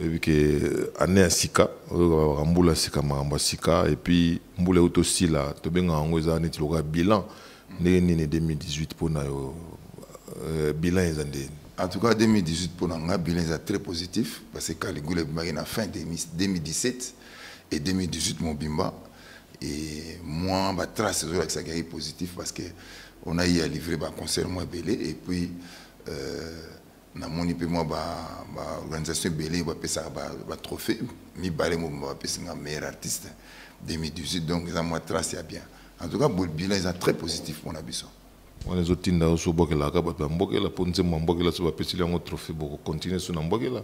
oyebi ke ane ya sika oyokaka mbula sika makambo ya sika epuis mbula euti osila tobengaka yango eza neti lokola bilan ndenge nini 2018 mpo na yo euh, bilan eza ndeni en tout cas 2018 mpo na ngai bilan eza très positif parce que caligula ebimaki na fin 2017 et 2018 mobimba et moi batrace ezolakisaki yaki positif parce que on a eu à livrer baconcert mwa ebele et puis euh, namoni mpe mwa baorganisation ba ebele bapesaka batrophée ba mibale mobimba bapesi nga meilleur artiste 2018 donc eza mwa trace ya bien en tout cas bilan eza très positif mpona biso wana ezotinda yo so obokelaka bato ya mbokela mpo nzembo ya mbokela so bapesili yango trophée bokokontinue so na mbokela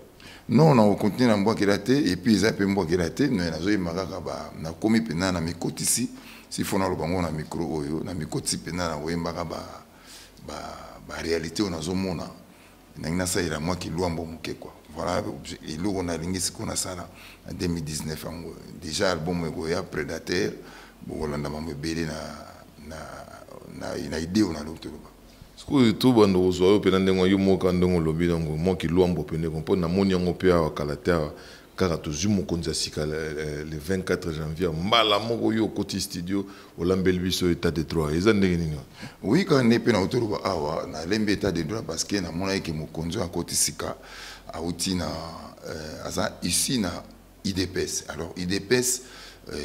non nakokontinue na mbokela te epuis eza mpe mbokela te me nazoyemba kaka nakomi mpenza na mikotisi sifo naloba yango na mikro oyo na mikotisi mpenza nakoyembaka ba ba ba réalité oyo nazomona ndenge nasalela mwa kilwambo moke kua voilà eloko nalingi sikoyo nasala na 2019 yango déjà album ekoya prédateur bokolanda mambo ebele na, na, na, na ideo nalingi toloba sikoyo to banda kozwa yo mpena ndenge yo moka ndenge olobi nango mwa kilwambo mpe ndeko mpo namoni yango mpe awa kala te awa kaka tozwi mokonzi ya sika le 24 janvier mbala moko yo okoti studio olambeli biso état de droit eza ndenge nini oui kaka nde mpe nauti oloba awa nalembi état de droit parce que namonaki ke mokonzi oyo akoti sika auti na euh, aza ici na idps alors idps euh,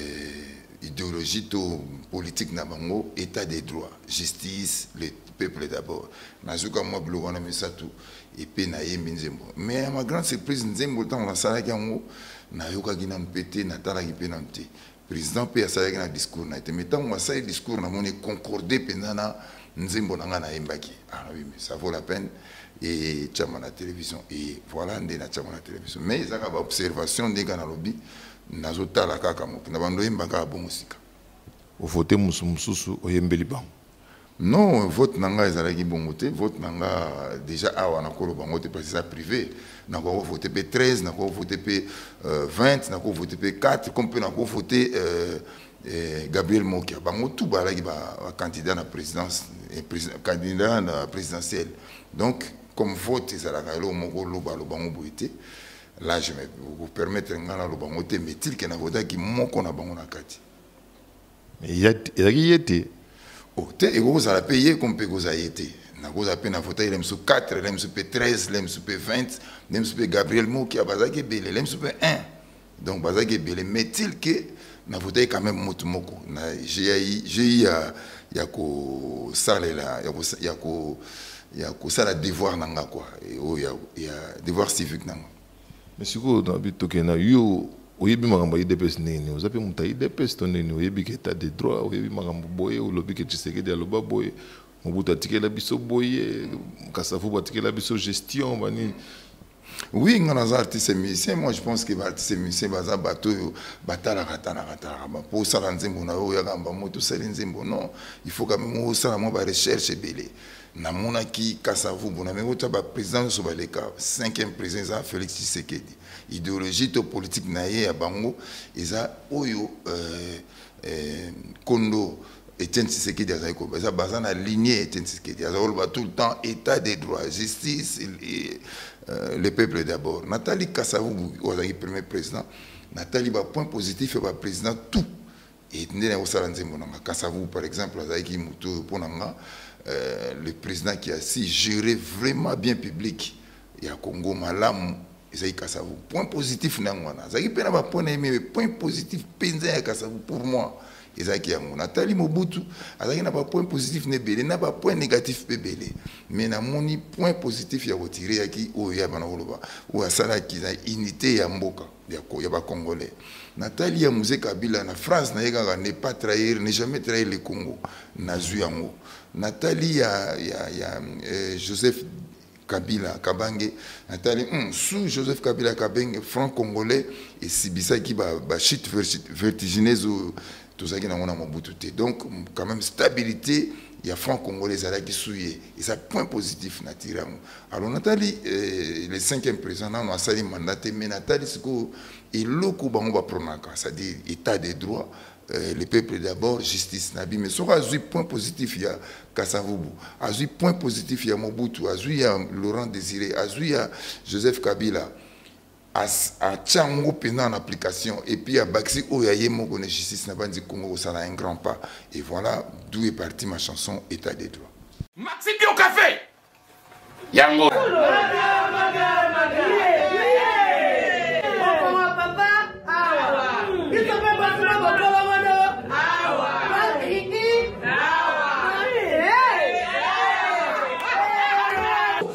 idéologie to politique na bango état de droit justice le peuple d'abord nazuka mwa biloko wana misato epe nayembi nzembo mais ya ma grande surprise nzembo ntango nasalaki yango nayokaki nanu mpe te natalaki mpe nanu te président mpe asalaki na discours na ye te mais ntango asali discours namoni concorde mpenza na nzembo na ngai nayembaki alobi ah, mais ça vaut la peine etyama na télévision eye voilà nde natyama na télévision mais ezaka baobservation ndenge kaka nalobi nazotala kaka moke na bando oyemba kaka bongo sika ovote mosusu mosusu oyembeli bango Non, vote nanga ezalaki bongo te. Vote nanga déjà awa na kolo bango te parce que ça privé. Na ko voter pe 13, na ko voter pe 20, na ko voter pe 4 comme pe na ko voter euh, euh, Gabriel Mokia. Bango tout ba laki ba, ba candidat na présidence et président, candidat na présidentiel. Donc comme vote ezalaka elo moko loba loba ngo boite. Là je me vous permettre ngana loba ngo te mais tel que na votaki moko na bango na kati. ezalaki ye te o oh, te ekoki kozala mpe ye ko mpe ekozala ye te nakozala mpe na vota ye lemosu 4 lemosu mpe 13 lemosu mpe 20 lemosu mpe gabriel mokia bazalaki ebele lemosu mpe 1 donc bazalaki ebele metil ke na vota ye quand même motu moko na gi ya ya kosalela ya kosala devoir na nga kua oyo ya devoir civique na nga Mais sikoyo na bi toke na yo oyebi makambo ya idps ndenge nini oza mpe moto ya idps to ndenge nini oyebi ke etat de droit oyebi makambo boye olobi ke tshisekedi aloba boye mobutu atikela biso boye kasavubu atikela biso gestion banini oui nga naza artiste musicien moi je pense que baartiste musicien baza bato oyo batalaka talaka talaka mpo osala nzembo na yo oyaka mba moto osali nzembo non il faut quand même osala mwa barecherche ebele namonaki kasavubu na meko tya baprésident nyonso baleka cinquième président eza félix tshisekedi idéologie to politique na ye ya bango eza oyo euh, euh, kondo etienne tshisekedi azali koloba eza baza na lignée etienne tshisekedi azali koloba tout le temps état des droits justice et, euh, le peuple d'abord natali kasavubu oyo azalaki premier président natali bapoint positif ya baprésident tout et nde nakosala nzembo na nga kasavu par exemple azalaki moto oyo mpo na nga euh, le président qui a si gérer vraiment bien public ya congo malamu ezalaki kasavu point positif na yango wana azalaki mpe na bapoint na ye mais point positif mpenza ya kasavu pour moi ezalaki yango natali mobutu azalaki na bapoint positif na ebele na bapoint négatif mpe ebele mais namoni point positif ya kotire yaki oyo ya bana koloba oyo asalaki na unité ya mboka ya, ya ba congolais natali ya muse kabila na france naye kaka ne pas trahir ne jamais trahir le congo nazwi yango natali ya, ya, ya eh, joseph kabila kabange natali mm, sous joseph kabila kabange franc congolais esibisaki bachute ba vertigineuse tozalaki nango na mobutu te donc quand même stabilité ya franc congolais ezalaki suye eza point positif na tire yango alors natali eh, le cinquième président nano asali mandat te mais natali sikoyo eloko bango bapronaka c'est-à-dire état de droit euh, le peuple d'abord justice na bino soki azwi point positif ya kasavubu azwi point positif ya mobutu azwi ya laurent désiré azwi ya joseph kabila atia yango mpenza en application epuis abakisi oyo ya ye moko na justice na banzi congo kosala un grand pas et voilà d'où est parti ma chanson état des droits maxi bio café yango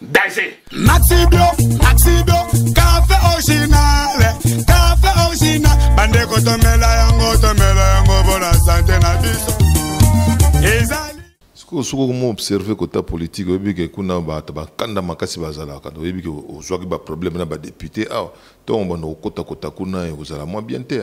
danger maxi bio maxi bio café original café original bandeko tomela yango tomela yango mpona sante na biso ezali sikoyo soki okoma observe kota politike oyebi ke kuna bato bakanda makasi bazalaka oyebi ke ozwaki baproblème na badepute awa ntongo banda kokota kota kuna ekozala mwa bien te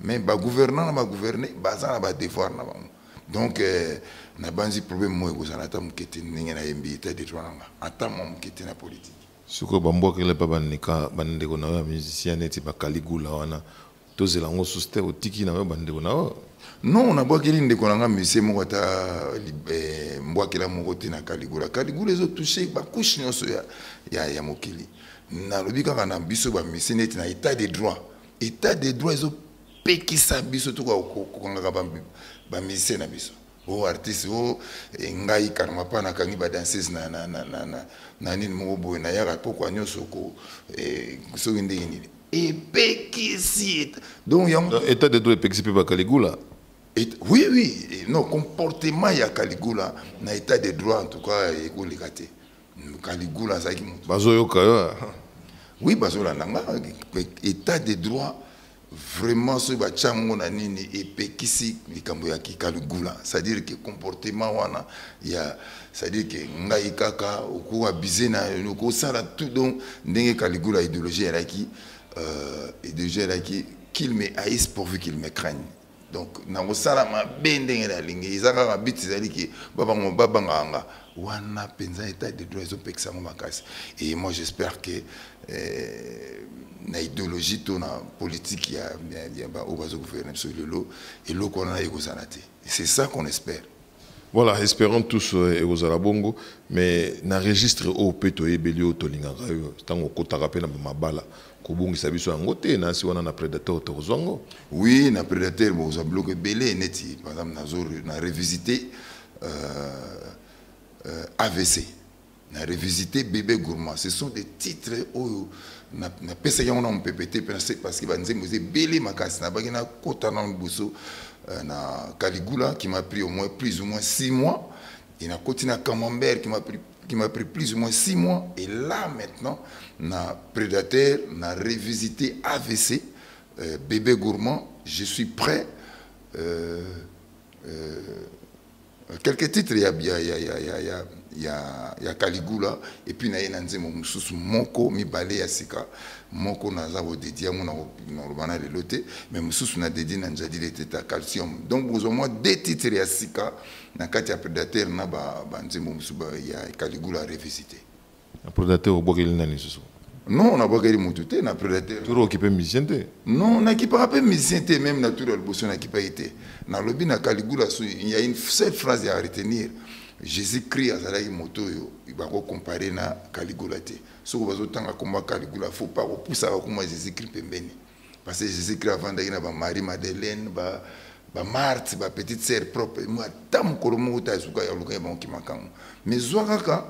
mais ba gouvernant na ba gouverner baza na ba devoir na bango donc euh, na banzi problème moye kozala ata moke te ndenge nayembi eta de droit nanga ata mwa moke te na politique sikoyo bambwakela mpe bandeka bandeko na yo ya musicien neti bakaligula wana tozela yango susu te otiki na yo bandeko na yo non nabwakeli ndeko na nga musicien moko ata eh, mbwakela moko te na kaligula kaligula ezotouche bacouche nyonso ya, ya, ya mokili nalobi kaka na biso bamusicien neti na etat de droit etat de droit ezo pekisa biso tuka kokangaka bamusicien na biso o oh, artiste o oh, eh, ngai karma pa nakangi badanseuse na nini moko boye nayaka pokwa nyonso ko eh, soki ndenge nini epekisi donc yango euh, état de droit epekisi mpe bakaligula Et, oui, oui, non, comportement ya Caligula na état de droit en tout cas ekoleka te. Caligula azalaki moto. Bazoyoka yo. Ah. Oui, bazolanda nga état de droit vraiment soki batya yango na nini epekisi likambo ya kikaligula c'est-à-dire que comportement wana ya c'est-à-dire que ngai kaka okoka bise na okosala tout donc ndenge kaligula idéologie elaki euh, idéologie elaki qu'il me haïsse pourvu qu'il me craigne donc nakosala mabe ndenge nalingi eza kaka bit ezali ke babango babangaka nga wana mpenza etat de droit ezopekisa yango makasi et moi j'espère que eh, na idéologie to na politique ya baoyo bazogouverne biso lelo eloko wana ekozala te c'est ça qu'on espère Voilà, espérons tous euh, ekozala bongo, mais na registre oyo mpe toyebeli oyo tolingaka yo ntango okotaka mpe na mabala kobungisa biso yango te na asi wana na predateur tokozwa yango oui na predateur bokozwa biloko ebele neti par exemple nazo na revisite euh, euh, avc na revisite bebe gourmand ce sont des titres oyo napesaki yango na mopepe te mpe nase parce que banzembo eza ebele makasi nabaki nakota nano liboso euh, na caligula qui m'a pris au moins plus ou moins six mois et nakoti na camembert qui m'a pris qui m'a pris plus ou moins six mois et là maintenant na prédateur na revisité avc euh, bébé gourmand je suis prêt euh, euh, Quelques titres ya ya ya ya ya ya ya, ya Caligula et puis na ye na nzembo mosusu moko mibale ya sika moko naza kodedie yango nakoloba na lelo te mais mosusu na dedie na njadile te ta calcium donc bozwa mwa de titre ya sika na kati ya predateur na banzembo mosusu ya Caligula revisite Na predateur obwakeli nani susu? Non, na bwakeli mutu te na predateur. Turo okipe musicien te? Non, na kipaka pe musicien te même na turo liboso na kipaki te. Na lobi na Caligula su il y a une seule phrase à retenir. Jésus-Christ azalaki moto oyo bako comparer na Caligula te. Soko bazo tanga komba Caligula faut pas ko poussa ko kuma Jésus-Christ pembeni. Parce que Jésus-Christ avandaki na ba Marie Madeleine ba ba Marthe ba petite sœur propre. Moi tam kolomo ta zuka ya luka ya banki makango. Mais zwa kaka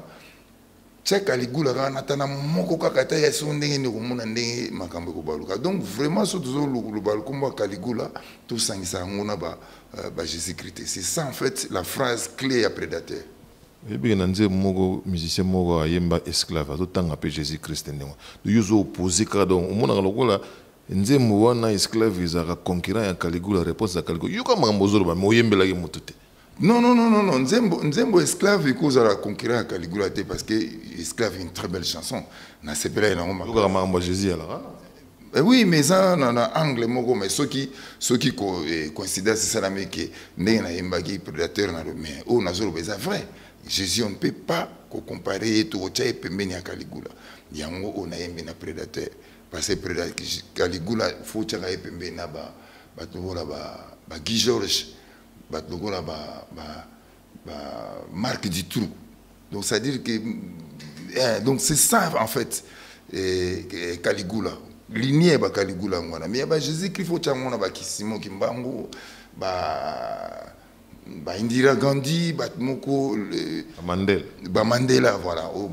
tiaka ligula kaka na tana moko kaka ata ya soko ndenge nde okomona ndenge makambo ekobaluka donc vraiment so tozoloba lokombo ya kaligula tosangisa yango na ba, uh, ba jésus christ te c'est ça en fait la phrase clé ya prédateur oyebike na nzembo moko musicien moko ayemba esclave azotanga mpe jésus christ ndenge yo ozo opposé kaka donc omonaka lokola nzembo wana esclave ezalaka concurrent ya kaligula réponse ya kaligula yoka makambo ozoloba me oyembelaki motu te Non, non, non, non, non. Nzembo, Nzembo esclave et cause à la conquérant à Caligula parce que esclave une très belle chanson. Na sepela et na ngoma. Loka mamba Jésus à la rana. Eh oui, mais ça, na, na angle moko, mais ceux qui, ceux qui co, eh, considèrent c'est ça la mec, n'est na yembagi prédateur na le mais oh na zolo beza vrai. Jésus on ne peut pas ko comparer et tout au tchai pembeni à Caligula. Yango on a yembi na prédateur parce que prédateur Caligula faut tchaka pembeni na ba ba tout là ba ba Guy Georges. bato lokola ba, ba, ba marque du trou donc c'est à dire que eh, donc c'est ça en fait eh, eh, caligula linie ba caligula yango wana mais ya ba jésus christ fo tyango na bakisimo kimbangu ba ba indira gandhi bato moko bamandela bamandela voilà oyo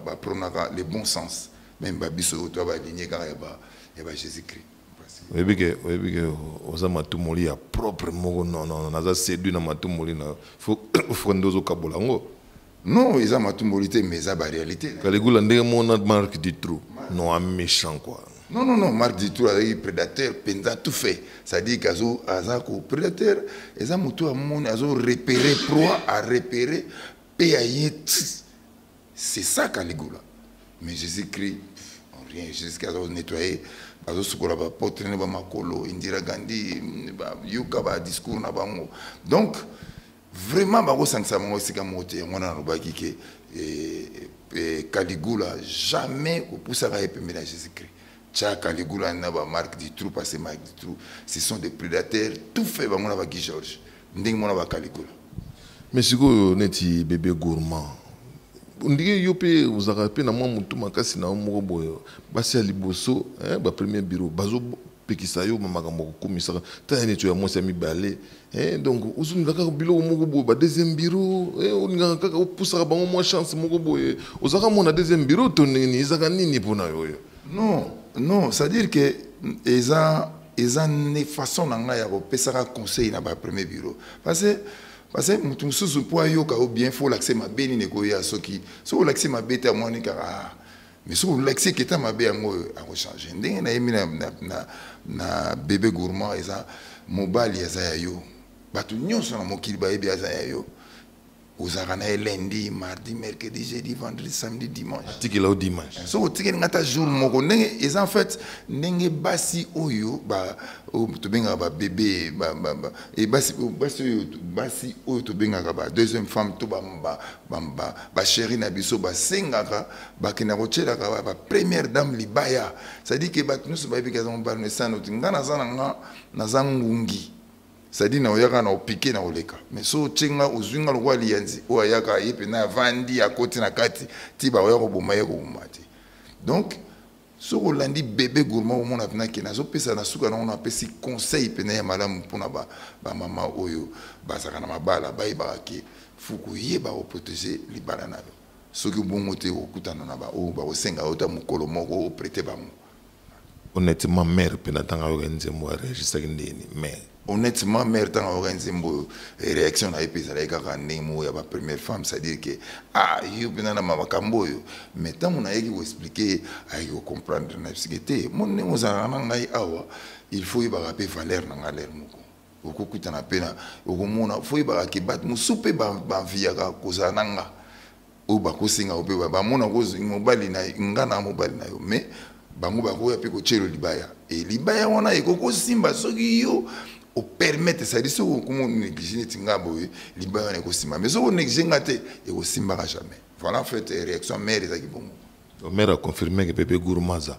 bapronaka le bon sens meme babiso oyo to balinie kaka ya ba jésus christ oyebi ke oyebi ke oza matumoli ya propre moko non non naza séduit na matumoli na faut faut nde ozokabola yango non eza matumoli te mais eza baréalité kaligula ndenge mona marque du trou non a méchant quoi non non non marque du trou azalaki prédateur mpenza tout fait c'est-à-dire kazo aza ko prédateur eza motu amoni azo repérer proie a repérer mpe aye ti C'est ça Caligula. Mais Jésus-Christ, rien. Jésus-Christ a nettoyé, a soukola ba pote ne ba makolo, Indira Gandhi, ba yoka ba discours na bango. Donc vraiment ba ko sangisa bango sika mote yango na lobaki ke et, eh, et eh, Caligula jamais ko pousa ba epemela Jésus-Christ. Tcha Caligula na ba Marc Dutroux passé Marc Dutroux, ce sont des prédateurs tout fait bango na ba Guy Georges. Ndenge mona ba Caligula. Mais sikoyo neti bébé gourmand. Ondike yo pe ozaka pe na mwa mutu makasi na yo moko boye. Basi ya liboso, hein, ba premier bureau bazo pekisa yo makambo kokumisaka tala neti ya mwasi ya mibale eh, donc ozongela kaka biloko moko boye ba deuxième bureau eh, olingaka kaka opusaka bango mwa chance moko boye ozaka mwana deuxième bureau to nini ezaka nini mpo na yo oyo non non c'est à dire que eza eza ne façon na ngai ya kopesaka conseil na ba premier bureau parce que parce que moto mosusu mpo ayoka yo bien fo olakise mabe nini ekoya soki soki olakise mabe te amoni kaka ah, mais soki olakisi eketa mabe yango oyo akochange ndenge nayemi na, na, na, na bebe gourmand eza mobali aza ya yo bato nyonso na mokili bayebi aza ya yo ozalaka na ye lundi mardi mercredi jeudi vendredi samedi dimanche atikela yo dimanche soki otikeli ngai ata jour moko ndenge eza en fait ndenge basi oyo tobengaka babebe basi oyo basi oyo tobengaka ba deuxième femme to bachéri na biso basengaka bakenda kotyelaka bapremière dame libaya cestadire ke bato nyonso bayebi ke aza mobali na esano ti ngai naza na nga naza ngungi sadi na oyaka na opike na oleka mais so otye nga ozwi nga lokola liyanzi oyo ayaka ye mpena avandi akoti na kati ti baoya koboma ye koboma te donc soki olandi bebe gourma omona mpena ke nazopesa na suka nango napesi conseil mpena ya malamu mpona bamama ba oyo bazalaka na mabala bayebaka ke fuku yeba oprotege libala na yo soki bongo te okutana na baoyo bakosenga yo ta mokolo moko oprete bango honnêtement mère mpe na ntango ayoka nzembo areagisaki ndeni mais honnêtement mère ntango ayoka nzembo oyo eh, réaction na ye mpe ezalaki kaka ndenge moko ya bapremière femme c'est-à-dire ke ah yo mpenza na makambo oyo mais ntango nayaki koexplike ye ayaki kocomprendre na bisike te mo ndenge ozalaka na ngai awa il faut oyebaka mpe valeur na ngai lere moko okokutana mpe na okomona fo oyebaka ke bato mosusu mpe banviyaka kozala na ngai oyo bakosenga yo mpe bamona mobali na nga na mobali na yo mais bango bakoya mpe kotyelo libaya e libaya wana ekoki kosimba soki yo opermete sadi soki okoma onéglige neti nga boye libaya wana ekosimba mais soki onéglige nga te ekosimbaka jamais voilà en fait réaction mare ezalaki bongo mare aconfirmeke pepe gourmaza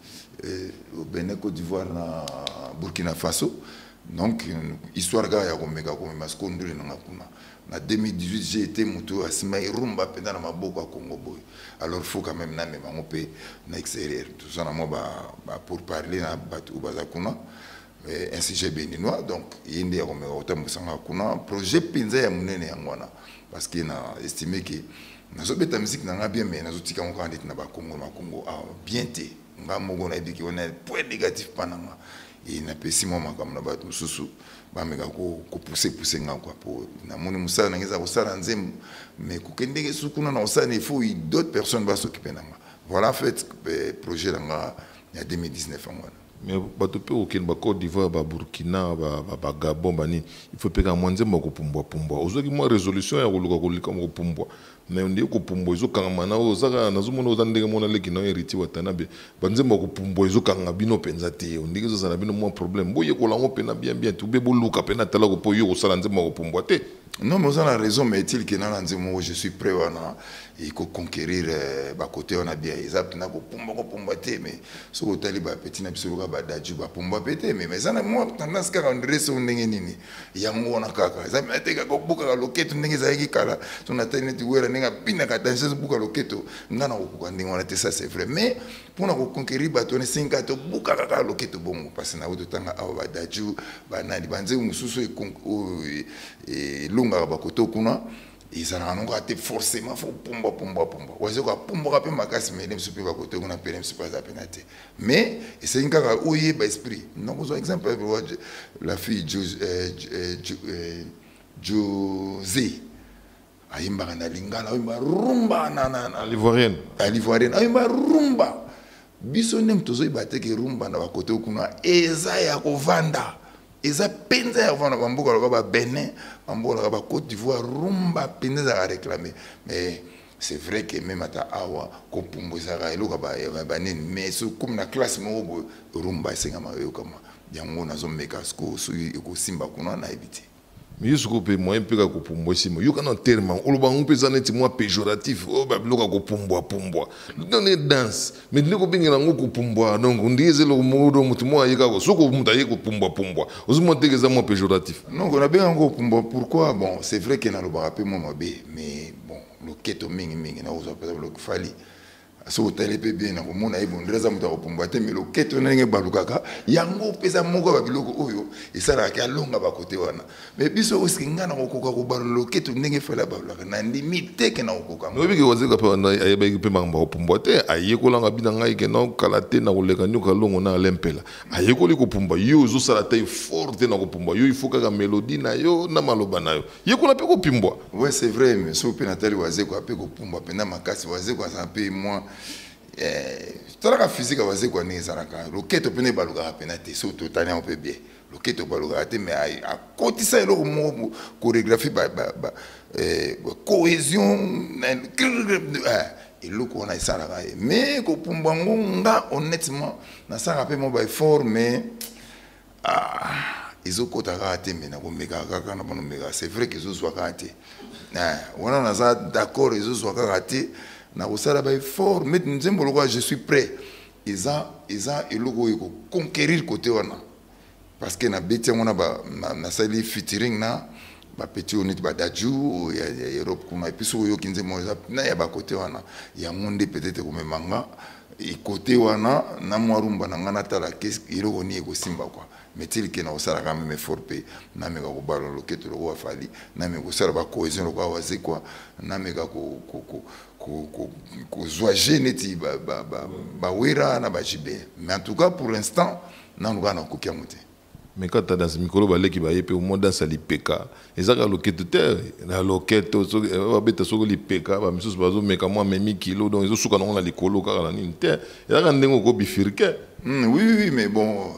au Bénin, Côte d'Ivoire, na Burkina Faso. Donc, histoire kaka ya komeka komema siko ndule nanga kuna na 2018 j'ai été moto oyo asimaki rumba mpenza na maboko ya congo boye alors faut quand même namema yango mpe na extérieur toza na mwa bapour parler na bato oyo baza kuna eh, institut béninois donc ye nde akomeka kotambwisanga kuna projet mpenza ya monene yango wana parce que na estime ke nazobeta miziki na ngai bien mais nazotika yango kaka ndeti na bakongo na bakongo awa ah, bien te ngai moko nayebi ke wana point négatif mpa na nga e napesi mwa makambo na bato mosusu bameka kopusepuse ngai kua mpo namoni mosala na ngai eza kosala nzembo mais kokendeke su kuna na kosala na il faut d'autres personnes basokipe na nga voilà en fait eh, projet na nga ya 2019 yango wana Mais bato mpe kokende ba Cote d'Ivoire, ba Burkina, ba, ba, ba Gabon, ba nini, il faut epeka mwa nzembo ya kopumbwa pumbwa. Ozwaki mwa resolution ya koluka kolika kopumbwa, mais ondie kopumbwa ezokangama na yo. Oza kaka, nazomona oza ndenge moko na leki na yo Heritier Watanabe, ba nzembo ya kopumbwa ezokanga bino mpenza te. Ondiki ezozala na bino mwa problème. Boyekola yango mpenza bien bien te, ou bien boluka mpenza atalaku mpo yo okosala nzembo ya kopumbwa te. Non, mais vous avez raison, mais est-il que dans moi je suis prêt à il faut conquérir euh, bah, côté on a bien ils apprennent à pomba ko pomba te mais ce que tu as bah petit n'a biso ba daju ba pomba pete mais mais ça moi tendance qu'à rendre son ndenge nini yango on a kaka ça mais te ka ko buka ka loketo ndenge za yaki kala ton atene tu wera ndenge pina ka danseuse buka loketo ngana ko ko ndenge on a te ça c'est vrai mais mpo na koconquerir bato wana esengi kaka tobukaka kaka loketo bongo mpasi na yango totanga awa badaju banani banzembo mosusu oyo e, e, elongaka bakoto kuna ezalaka nango kaka te forcément fo pumbwa pumbwa pumbwa wazo kapumbwaka mpe makasi mele mosusu mpe bakoto kuna mpele mosusu mpe aza mpena te mais esengi kaka oyeba esprit nakozwa exemple la fille jose euh, euh, euh, ayembaka na lingala ayemba rumba na na na l'ivoirienne na l'ivoirienne ayemba rumba biso nde moto tozoyeba te ke rumba na bakote kuna eza ya kovanda eza mpenza ya kovanda bamboka loka ba benin bamboka loka ba côte d'ivoire rumba mpenza ezalaka réclame mais c'est vrai que meme ata awa kopumbwa ezalaka eloko ya banini mais sokomi na classe moko boye rumba esengama oyokama yango nazomeka soki ekosimba kuna nayebi te miyo soko mpe moye mpe kaka kopumbwa esima yoka na terme oloba yango mpe eza neti mwa péjoratif oyo oh, babiloko ya kopumbwapumbwa done danse me nde kobengela yango kopumbwa donc ndenge eza eloko modo moto moko aye kaka soko moto aye kopumbwapumbwa ozomona teke eza mwa péjoratif non nabenga yango kopumbwa pourquoi bon c'est vrai ke nalobaka mpe mwa mabe mais bon loketo mingimingi nakozwa mpe fali soki otali mpe bien na komona ye bondela aza moto ya kopumbwa te me loketo na ndenge ebalukaka yango mpeza moko ya biloko oyo esalaka ke alonga bakote wana me biso oske ngai na kokoka kobalula loketo ndenge efali abalulaka na ndimi te ke na kokoka oyebi ke wazeka mpe ayebaki mpe makambo ya kopumbwa te ayekolanga bi na ngai ke na kala te na koleka nyoka longo na ale mpela ayekoli kopumbwa yo ozosala te fort te na kopumbwa yo ifo kaka melodi na yo na maloba na yo yekola mpe kopimbwa oui c'est vrai mais soki mpe natali wazeko ape kopumbwa mpenza makasi wazeko aza mpe mwa eh, tolaka physique ya wazeko ndenge ezalaka loketo mpena ebalukaka mpena te soki totali yango mpe bien loketo ebalukaka te mais akotisa eloko moko chorégraphie eh, cohésion eh, eloko wana esalaka ye mais kopumbwa ngo nga honnêtement nasalaka mpe mwa baeffort mais ah, ezokota kaka te me nakomekaka kaka na bana omekaka c'est vrai ke ezozwa kaka te eh, wana naza d'accord ezozwa kaka te nakosala baeffort mete nzembo lokola je suis prêt eza eza eloko oyo ekoconquérir kote wana parce que nabeti yango nasali featuring na bapeti oyo neti badaju ya, ya europe kuna epuis soki oyoki nzembo eza na ya bakote wana yango nde peut-être ekomemanga Ikote wana na mwa rumba na ngai natala kesi eloko nini ekosimba kwa metili ke nakosalaka meme effort mpe nameka kobala loketo lokola fali nameka kosala bacohesion lokola wazekwa nameka kozwa je neti bawera na bajibe mais en tout cas pour l'instant nanu kaka nakoki yango te Meka ta danse mikolo ba leki ba ye pe omo danse ya lipeka eza kaka loketo te na loketo soki eh, ba beta soki lipeka ba misusu bazo meka mwa memi kilo donc ezo suka nango na likolo kaka na nini te eza kaka ndenge oko bifirke mm, oui oui mais bon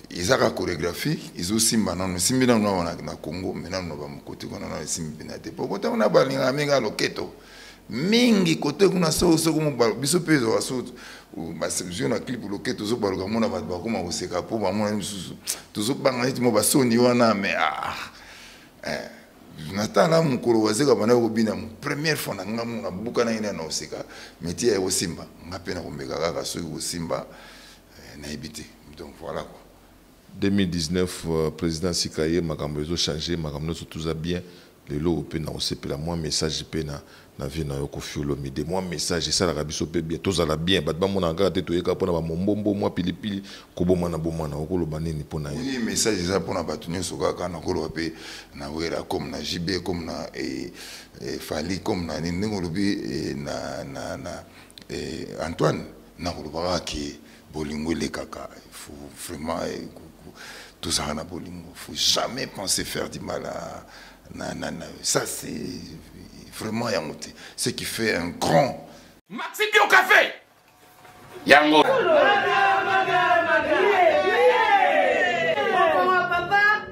eza kaka chorégraphie ezo simba nanu simbi nanu na na Congo mais nanu na ba mokoti kuna nanu esimbi bina te po kota kuna balingaka mingi loketo mingi kote kuna soko soko mobalo biso mpe ezwaka so basio na clip loke tozobaluka mona bato bakoma koseka mpo bamonani mosusu tozobanga neti mo basoni wana me ah, eh, natala mokolo wazeka banda kobina première fois na nga mo nabukanaki na naoseka metie ya kosimba nga mpe nakomeka kaka soki kosimba eh, nayebi te donc voilà quoi 2019 president asika ye makambo ezo change makambo nionso toza bien lelo oyo mpe nakosepela mwa message mpe na na vie na yo kofi olomide mwa message esalaka biso mpe bien tozala bien bato bamonaka kaka te toyeka mpo na bamombombo mwa pilipili kobomana bomana okoloba nini mpo na ye message eza mpo na bato nyonso kaka nakoloba mpe na wera comme na jb comme na eh, eh, fali comme na nini ndenge olobi eh, na, na, na eh, antoine nakolobaka ke bolingo elekaka il faut vraiment eh, tozala na bolingo faut jamais penser faire du mal à, na, na, na. ça c'est vraiment yango te ce qui fait un grand maxi bio café yango Maga, maga, maga. Yeah, yeah. Yeah. Papa, papa.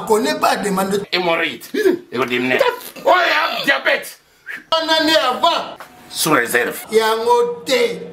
connaît pas demande de hémorroïde ekodimine oyo ya diabète wana nde avant sous réserve yango te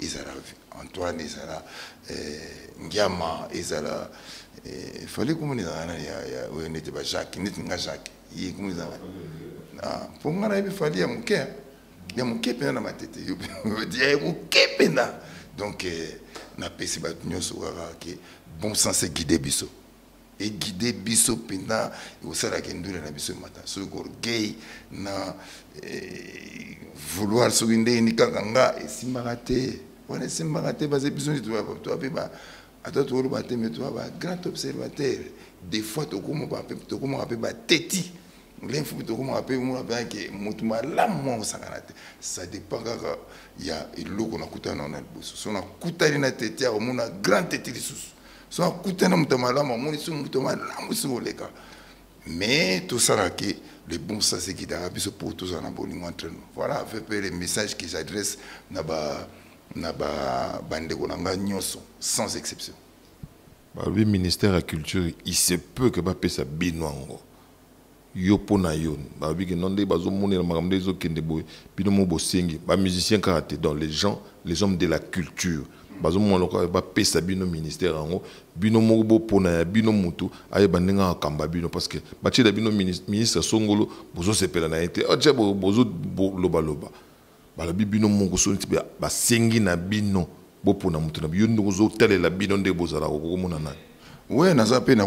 ezala antoine ezala eh, ngiama ezala eh, fale komona ezala nani oyo nete ba jacques neti nga jacques ye komona ezala ah, mpo nga nayebi fali ya moke ya moke mpenza na matete yo ya moke mpenza donc eh, napesi bato nyonso kaka ke bon sens eguide biso eguide biso mpenza ekosalaka endule na biso emata soki korgueil na eh, vouloir soki ndeni kaka nga esimbaka te wana esimbaka te base biso nde toa mpe ata tokoloba te me toa ba grand observateur des fois tokomaka mpe bateti lenfu mpe tokomaka mpe mona mpenza ke motu malamu mwa kosangana te ça dépend kaka ya eloko nakutana na liboso so nakutani na teti akomona grand teti lisusu so akutani na moto ya malamu amoni so moto ya malamu soki oleka mais tosala ke le bon sens ekitaka biso mpo tozala na bolingo entre nous voilà fait mpe le message que j'adresse na ba na ba bandeko na ngai nyonso sans exception balobi ministère ya culture il se peut que bapesa bino yango yo po na yo balobi ke non nde bazo monela makambo nde ezo kende boye bino mo bosengi ba musiciens kaka te donc les gens les hommes de la culture bazo mona lokola ba pesa bino ministère yango bino moko bo pona ya bino mutu aye ba ndenge akamba bino parce que ba tiela bino ministre songolo bozo sepela na ete acha ah, bozo loba loba balobi bino moko so nti ba sengi na bino bo pona mutu na bino ndozo talela bino nde bozala ko komona nani ouais naza pe na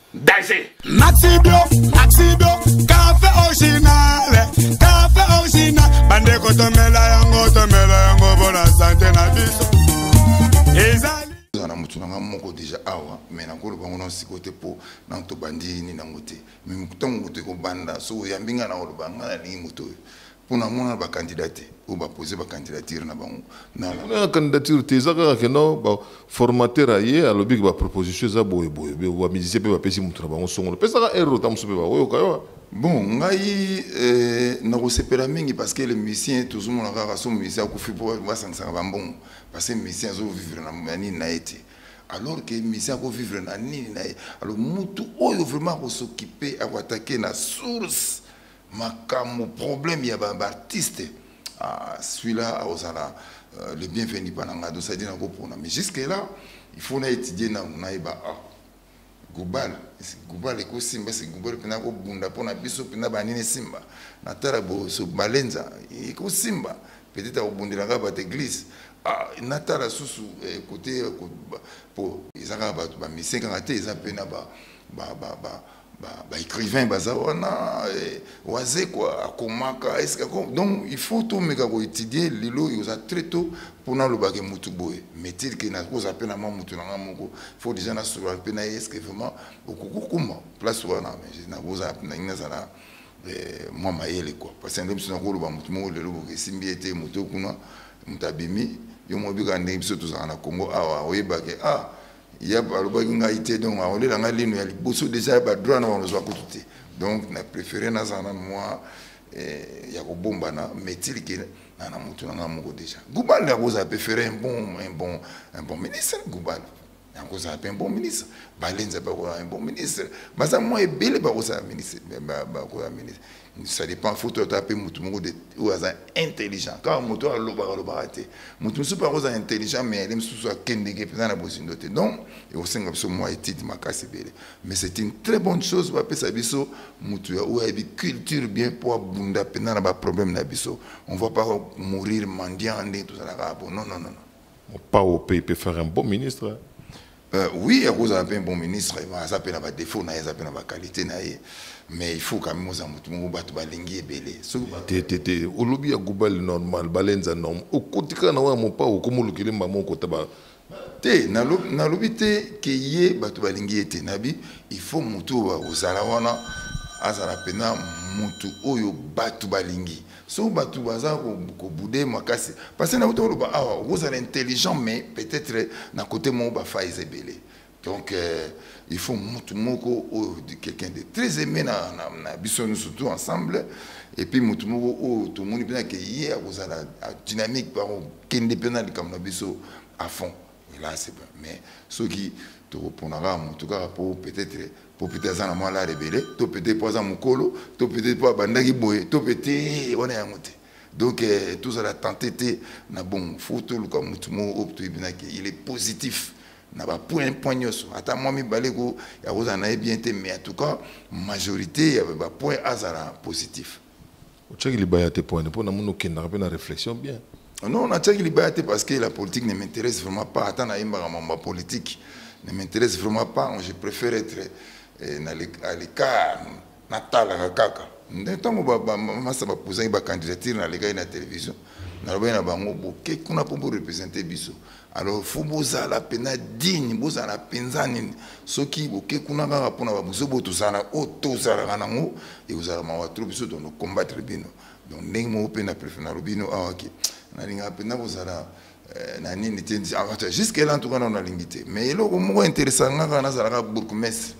danger maxi bio maxi bio café original café original bande ko tomela yango tomela yango bona santé na biso ezali na mutu na nga moko deja awa mais nakoloba ngo na siko te mpo na tobandi ni nango te mais ntango moto ekobanda so oyambi ngai na koloba ngai nalingi moto oyo mpo na mona ba candidat te oyo ba poser ba candidature na bango na na candidature te eza kaka keno ba formateur aye alobi ke ba proposition eza boye boye be ba musicien pe ba pesi mutu na bango songolo pesa ka erreur ta musu pe ba oyo kayo bon ngai euh, na ko sepela mingi parce que le musicien tozo mona kaka so musicien akufi po ba sangisa ba mbongo parce que musicien azo vivre na mani na ete alors que musicien ako vivre na nini na ye alors mutu oyo vraiment ako s'occuper ako attaquer na source makambo problème ya ba artiste ah, celui-là akozala euh, le bienvenu mpa na ngai dosadi na kopona mais jusque là il faut na étudier nanu nayeba ah, gubal gubal ekosimba se gubal mpena kobunda mpo na biso mpena banini esimba natala boso balenza ekosimba peut-être akobundelaka bato église ah, natala susu eh, kote mpo eza kaka bato bamisien kaka te eza mpe na ba, ba, ba, ba ba écrivain baza wana eh, wazekwa akomaka eske donc il faut tomeka koétudie lelo oyo oza très tôt mpo nalobake motu boye metile ke nakozala mpe na mwa motu na ngai moko faut déjà nasolola mpe na ye eske vraiment okoki kokoma place wana nakozala mpe nalingi nazala eh, mwa mayele kua parce que nde biso nakoloba motu moko lelo boke esimbi ye te motu kuna motu abimi yo mobikaka ndenge biso tozalaka na congo awa oyebake ah ya alobaki ngai te donc akolela ngai lino ya liboso deja ya badroit na banozwa kutu te donc na préféré nazala na mwa eh, ya kobombana metile ke na na motu na ngai moko deja gubal akozala mpe ferre un bon un bon un bon ministre gubal akozala mpe un bon ministre balenza mpe akozala un bon ministre baza mwa ebele bakozala ministre bakozala ministre ça dépend faut toi taper mutu moko de ou aza intelligent car mutu alobaka lobaka te mutu mususu par oza intelligent mais elle mususu akendeke mpenza na bozindo te donc ekosenga biso mwa étude makasi ebele mais c'est une très bonne chose bapesa biso mutu ya oyo ayebi culture bien mpo abunda mpenza na baproblème na biso on va pas mourir mendiant ndenge tozalaka bo non non non non opao mpe peut faire un bon ministre Euh, oui, akozala un bon ministre, aza mpe na ba défaut na ye, aza mpe na ba qualité na ye. Mais il faut quand même oza mutu moko bato balingi ebele. Soki te te te, olobi ya gubali normal, balenza normal. Okotika na wana mopa okomolukile mbamo okota ba te nalobi te ke ye bato balingi ye te nabi il faut mutu oyo ozala wana azala mpena mutu oyo bato balingi so bato baza kobude makasi parce na uta oloba awa ah, okozala intelligent mais peut-être na kote moko bafa eza ebele donc euh, il faut motu moko oyo oh, quelqu'un de très aimé na, na, na biso nyonso tout ensemble et puis motu moko oyo oh, tomoni mpena ke ye akozala dynamique par kende mpena likambo na biso à fond Mais là, c'est pas. Mais ceux qui te répondront à mon tout cas pour peut-être pour peut-être ça moi la révélé, tout peut-être pour ça mon colo, tout peut-être pour banda qui boye, tout peut-être on est à monter. Donc euh, tout ça la tenter na bon photo le comme tout mot au tout il est positif. na bapoint point nyonso ata mwa mibale ko ya kozala na ye bien te mais en tout cas majorité ya bapoint azala positif otyaki libaya te poine mpo namoni okendaka mpe na réflexion bien ah non natyaki libaya te parce que la politique ne m'intéresse vraiment pas ata nayembaka mambo ya politique ne m'intéresse vraiment pas je préfère être eh, na à l'écart natalaka kaka nde ntango masa bapusaki bacandidature nalekaki na télévision nalobaki na bango boke kuna mpo borepresente biso alors fo bozala mpenza digne bozala mpenza nini soki boke kuna kaka mpona babuzo bo tozala oyo tozalaka nango ekozala mawa tro biso tono combattre bino donc ndenge moko mpe na prefe nalobi bino awa ah, ke nalingaka mpenza kozala eh, na nini te ah, jusque là ntuka nao nalingi te mais eloko moko interesa nga kaka nazalaka bourgmestre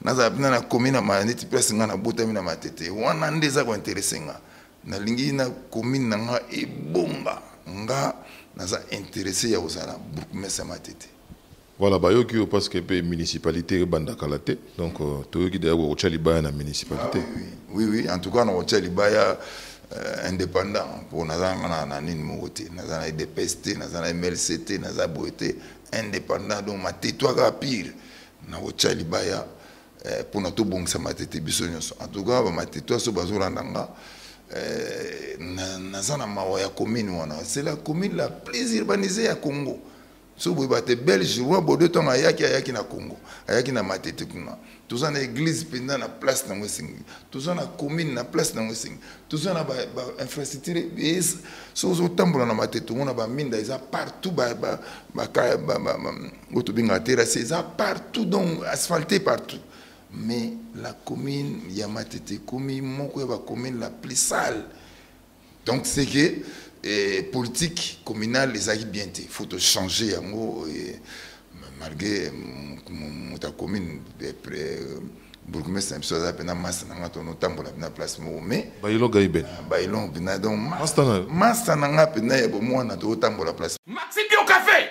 nazala mpenza na commune ya maya neti place nga nabotami na matete wana nde eza kointerese nga nalingi na commune na nga ebonga nga naza intéressé ya kozala bourgmestre ya matete voilà bayoki oyo parce que mpe municipalité ebanda kala te donc euh, toyoki deya kokotya libaya na municipalité ah, oui, oui, oui en tout cas nakotya libaya euh, indépendant mpo naza nga na nini moko te naza na edps te naza na mlc te naza boye te indépendant donc matetwaka pire nakotya libaya eh, mpona tobongisa matete biso nyonso en tout cas bamatete aso bazolanda nga eh, naza na mawa ya commune wana c'est la commune la plus urbanisée ya congo so boye bate belge roi bode ntango ayaki ayaki na congo ayaki na matete kuna toza na église mpenza na place nango esengi toza na commune na place nango esengi toza na bainfrastructure so ozotambola na matete omona baminda eza partout oyo tobengaka terrasse eza partout donc asphalte partout mais la commune ya matete ekomi moko ya bacommune la plus sale donc c'est que eh, politique communale ezalaki bien te faut tochanger yango eh, malgré moto ya commune eh, bourgmestre na biso aza mpena masta na nga tono tambola mpena place moko mais bailo gaiben ah, bailo mpena donc masta na nga mpena ya bomwana tokotambola place maxi bio café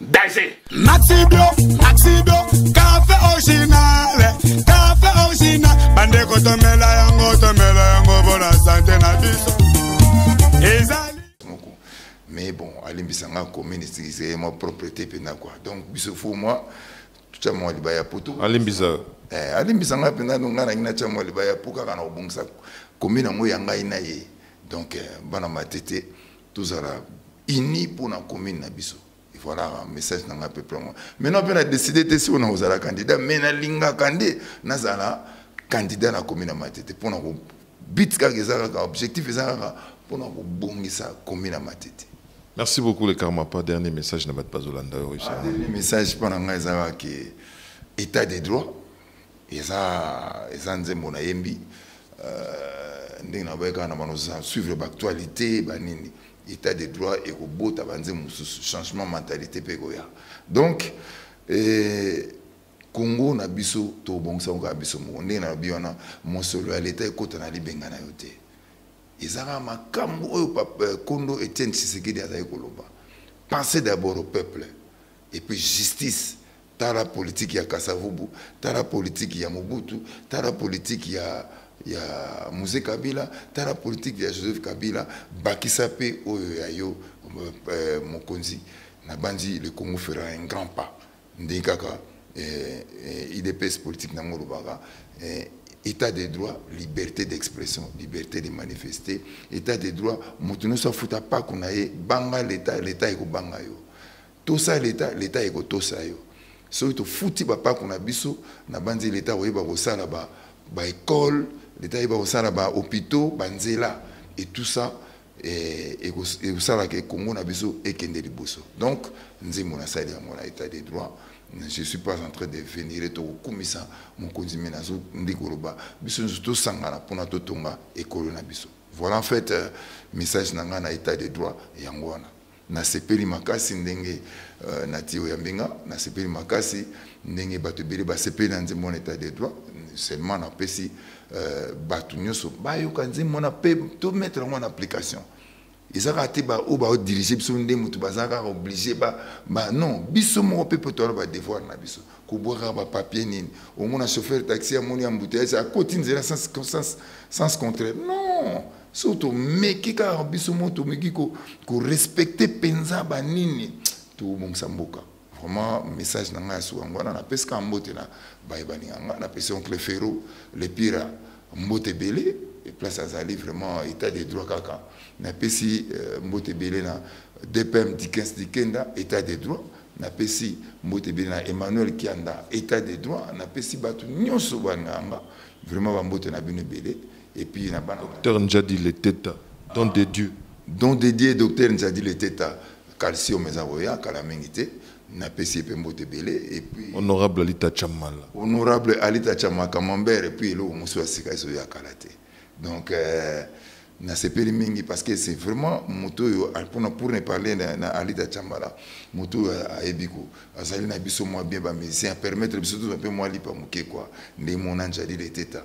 danger maxibio maxibio cafe original cafe original bandeko tomela yango tomela yango mpona sante na biso ezali moko mais bon alimbisa nga koministrise mwa propriété mpena kua donc biso fo mwa totya mwa liba ya poto alimbisa eh, alimbisa nga mpena no nga nangi natya mwa liba ya po kaka na kobongisa komi nango ya ngai na ye donc eh, bana matete tozala uni mpo na commune na biso et voilà message na ngai peuple yango maintenant mpe na décide te sikoyo nakozala candidat mais nalingaka nde nazala candidat na commune ya matete mpo na bit kaka eza kaka objectif eza kaka mpo na kobongisa commune ya matete merci beaucoup le karma pas dernier message na bato bazolanda yo ah, dernier message mpo na ngai eza kaka ke état de droit eza eza nzembo na yembi euh, ndenge na boye kaka na bano suivre baactualité banini état de droit ekobota banzembo mosusu changement mentalité mpe ekoya donc eh, congo na biso tobongisa ngo kaka biso moko ndenge na lobi wana mosolo ya leta ekota na libenga na yo te eza kaka makambo oyo euh, kondo etienne tshisekedi azali koloba pensez d'abord au peuple et puis justice tala politiki ya kasavubu tala politiki ya mobutu tala politiki ya ya muse kabila tala politiki ya joseph kabila bakisa mpe oyo ya yo eh, mokonzi nabanzi le congo fera un grand pas ndenge kaka eh, eh, idps politiki nango olobaka eh, état de droit liberté d'expression liberté de manifester état de droit moto nyonso afuta mpako na ye banga leta leta ekobanga yo tosa leta leta ekotosa yo soki tofuti bapako na biso nabanzi leta akoyeba kosala ba baekole leta ayeba kosala bahôpitaux banzela et tout ça eh, ekosalaka e congo na biso ekende liboso donc nzembo nasali yango na état de droit je suis pas en train de venire tokokumisa mokonzi me nazo ndi koloba biso nyonso tosangana mpona totonga ekolo na biso voilà en fait euh, message na ngai na état de droit yango wana Nasepeli makasi ndenge euh, na tiyo ya mbinga, nasepeli makasi ndenge bato ebele basepeli na nzembo wana etat de droit seulement napesi euh, bato nyonso bayoka nzembo wana mpe tomettre yango na application eza kaka te baoyo baodirige biso nde moto baza kaka oblige ba, ba non biso moko mpe mpo toyala badevoir na biso kobwaka bapapier nini omona chauffeur taxi amoni ya mbuteyasi akoti nzela sans, sans, sans contraire non so tomeki kaka biso mo tomeki korespecte mpenza banini tobongisa mboka vraiment message na ngai ya suka yango wana napesi kaka mbote na baye baninga ngai napesi oncle ferro le pira mbote ebele place azali vraiment état de droit kaka napesi euh, mbote ebele na dpm dikens dikenda état de droit napesi mbote ebele na emmanuel kianda état de droit napesi bato nyonso banganga vraiment bambote na bino ebele Et puis na bana. Docteur Njadi Leteta, don de Dieu. Don de Dieu, docteur Njadi Leteta, calcium eza boya kala mingi te. Na pesi pe mbote belé et puis honorable Alita Chamala. Honorable Alita Chamala Camembert et puis eloko musu ya sika ezo ya kala te. Donc euh, nasepeli mingi parce que c'est vraiment moto oyo mpona pour ne parler na, na alida chambala moto oyo ayebi ko azali na biso mwa bien bamusicien apermettre biso tozwa mpe mwa lipa moke kua nde mona njali leteta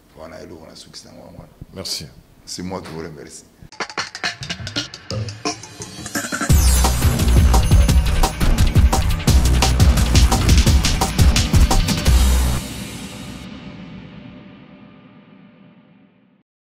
wana eloko nasukisi nango yango wana merci c'est moi qui vous remercie